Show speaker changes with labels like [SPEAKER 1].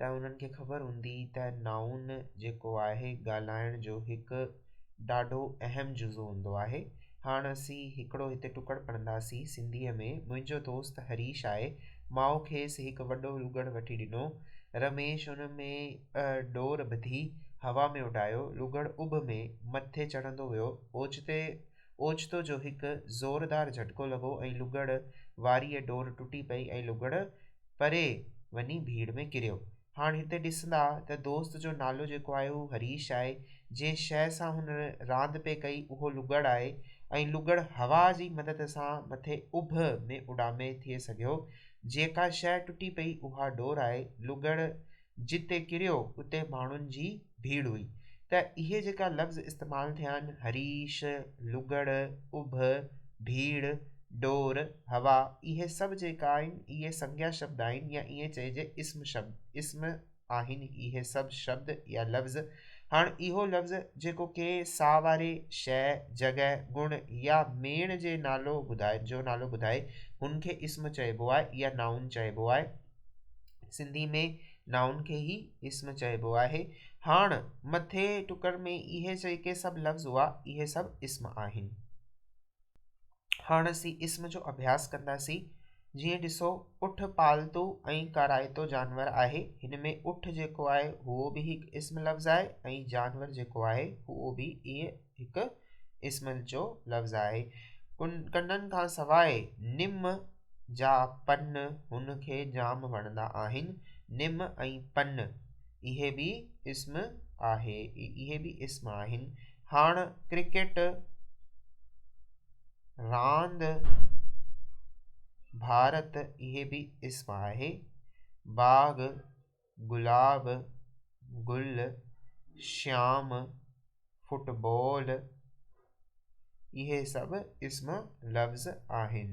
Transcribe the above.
[SPEAKER 1] ته انهن کي خبر هوندي ته نائون جيڪو آهي ڳالهائڻ جو هڪ ڏاڍو اهم جزو هوندو آهي. هاڻ اسين هڪڙو هتي ٽڪڙ پڙهنداسين سنڌيء ۾ منهنجو دوست هريش آهي ماء کيس هڪ وڏو لوگڙ وٺي ڏنو رميش ان ۾ ڏور ٻڌي هوا ۾ اڏايو لوگڙ اڀ ۾ مٿي چڙهندو ويو اوچتي اوچتو جو هڪ زوردار جهٽڪو لڳو ۽ لغڙ واريء ڊور ٽٽي پئي ۽ لغڙ پري وڃي ڀيڙ ۾ ڪريو. هاڻ هتي ڏسندا ته دوست جو نالو جيڪو آهي هو هريش آهي. جنهن شيء سان هن راند پئي ڪئي اهو لغڙ آهي ۽ لغڙ هوا جي مدد سان مٿي اڀ ۾ اڏامي ٿئي سگهيو. جيڪا شيء ٽٽي پئي اها ڊور آهي. لغڙ جتي ڪريو اتي ماڻهن جي ڀيڙ هئي ته اهي جيڪا لفظ استعمال ٿيا آهن هريش، لوڳڙ، اڀ، ڀيڙ، ڊور، هوا اهي سڀ جيڪا آهن اهي سنگيا شبد آهن يا ائين چئجي اسم شبد اسم آهن اهي سڀ شبد يا لفظ هاڻ اهو لفظ جيڪو ڪنهن ساهواري شيء، جڳهه، گڻ يا ميڻ جي نالو ٻڌائي جو نالو ٻڌائي هن کي اسم چئبو آهي يا نائون چئبو آهي. سنڌي ۾ نائون کي ئي اسم چئبو آهي. هاڻ مٿئين ٽڪر ۾ اهي جيڪي سڀ لفظ هئا، اهي سڀ اسم آهن. هاڻ اسين اسم جو اڀياس ڪنداسين. جيئن ڏسو اٺ پالتو ۽ ڪارائتو جانور آهي. هن ۾ اٺ جيڪو آهي اهو به هڪ اسم لفظ آهي ۽ جانور جيڪو آهي اهو به ائين هڪ اسم جو لفظ آهي. ڪنڊن کان سواء نم جا پن هن کي جام وڻندا آهن. نم ۽ پن اهي به اسم آهن. هاڻ ڪرڪيٽ راند ڀارت اهي به اسم آهي. باغ گلاب گل شيام فٽ بال اهي سڀ اسم لفظ آهن.